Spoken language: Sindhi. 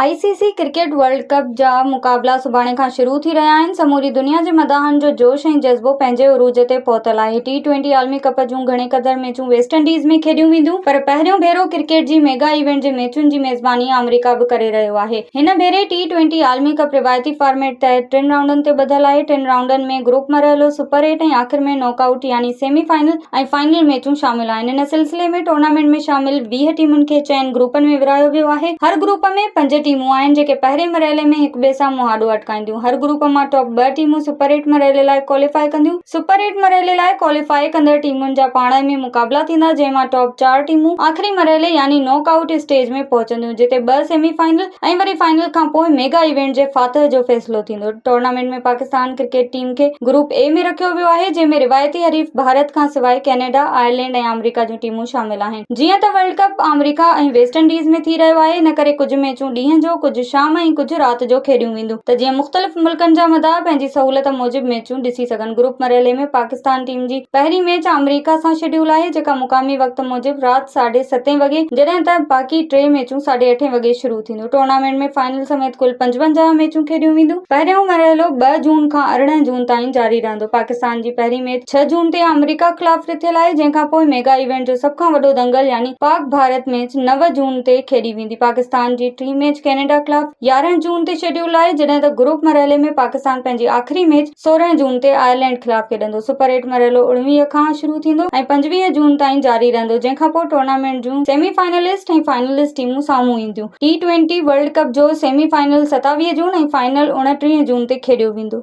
آء C C cricket World Cup جا مقابلا سڀاڻي کان شروع ٿي رهيا آهن، سموري دنيا جي مداحن جو جوش ۽ جذبو پنهنجي عروج تي پهتل آهي، ٽي ٽوئنٽي عالمي ڪپ جون گهڻي قدر ميچون ويسٽ انڊيز ۾ کيڏيون وينديون پر پهريون ڀيرو ڪرڪيٽ جي ميگا ايونٽ جي ميچن جي ميزباني آمريڪا به ڪري رهيو آهي، هن ڀيري ٽي ٽوئنٽي عالمي ڪپ روايتي فارميٽ تحت ٽن رائونڊن تي ٻڌل آهي، ٽن رائونڊن ۾ گروپ مرحلو، سپر ايٽ ۽ آخر ۾ ناڪ آئوٽ يعني سيمي فائنل. ۽ فائنل ميچون شامل آهن ان سلسلي ۾ ٽورنامينٽ ۾ شامل ويهه ٽيمن کي چئن گروپن ۾ ورهايو ويو آهي هر گروپ ۾ پنج ٽيمون آهن جيڪي پهرين مرحلي ۾ هڪ ٻئي سان مهاڏو اٽڪائينديون هر گروپ مان ٽاپ ٻه ٽيمون سپر ايٽ مرحلي لاء ڪواليفاء ڪنديون سپر ايٽ مرحلي لاء ڪواليفاء ڪندڙ ٽيمن جا پاڻ ۾ مقابلا ٿيندا جنهن مان ٽاپ چار ٽيمون آخري مرحلي يعني ناڪ آئوٽ اسٽيج ۾ پهچنديون جتي ٻه سيمي فائنل ۽ وري فائنل کانپوء ميگا ايونٽ جي فاتح جو فيصلو ٿيندو ٽورنامينٽ ۾ پاڪستان ڪرڪيٽ ٽيم کي گروپ اي ۾ رکيو ويو آهي جنهن ۾ روايتي حريف ڀارت کان سواء ڪينيڊا، آئرلينڊ ۽ آمريڪا جون ٽيمون شامل آهن. جيئن ته ورلڊ ڪپ آمريڪا ۽ ويسٽ انڊيز ۾ ٿي رهيو آهي ان ڪري ڪجهه ميچون ڏينهن جو، ڪجهه شام ۽ ڪجهه رات جو کيڏيون وينديون ته جيئن مختلف ملڪن جا مداح پنهنجي سهولت موجب ميچون ڏسي سگهن. گروپ مرحلي ۾ پاڪستان ٽيم جي پهرين ميچ آمريڪا سان شيڊيول آهي جيڪا مقامي وقت موجب رات ساڍي ستين وڳي جڏهن ته باقي ٽي ميچون ساڍي اٺين وڳي شروع ٿينديون. ھن ٽورنامينٽ ۾ فائنل سميت ڪل پنجونجاهه ميچون کيڏيون وينديون پهريون مرحلو ٻه جون کان ارڙهن جون تائين جاري رهندو پاڪستان جي پهرين ميچ ڇهه جون تي آمريڪا خلاف رٿيل آهي جنهن کان پوء ميگا ايونٽ جو سڀ کان وڏو دنگل يعني پاڪ ڀارت ميچ نو جون تي کيڏي ويندي پاڪستان جي ٽين ميچ ڪينيڊا خلاف يارهن جون تي شيڊيول آهي جڏهن ته گروپ مرحلي ۾ پاڪستان پنهنجي آخري ميچ سورهن جون تي آئرلينڊ خلاف کيڏندو، سپر ايٽ مرحلو اوڻويهه کان شروع ٿيندو ۽ پنجويهه جون تائين جاري رهندو جنهن کان پوء ٽورنامينٽ جون سيمي فائنلسٽ ۽ فائنلسٽ ٽيمون سامهون اينديون، ٽي ٽوئنٽي ورلڊ ڪپ جو سيمي فائنل ستاويهه جون ۽ فائنل اوڻٽيهه جون تي کيڏيو ويندو.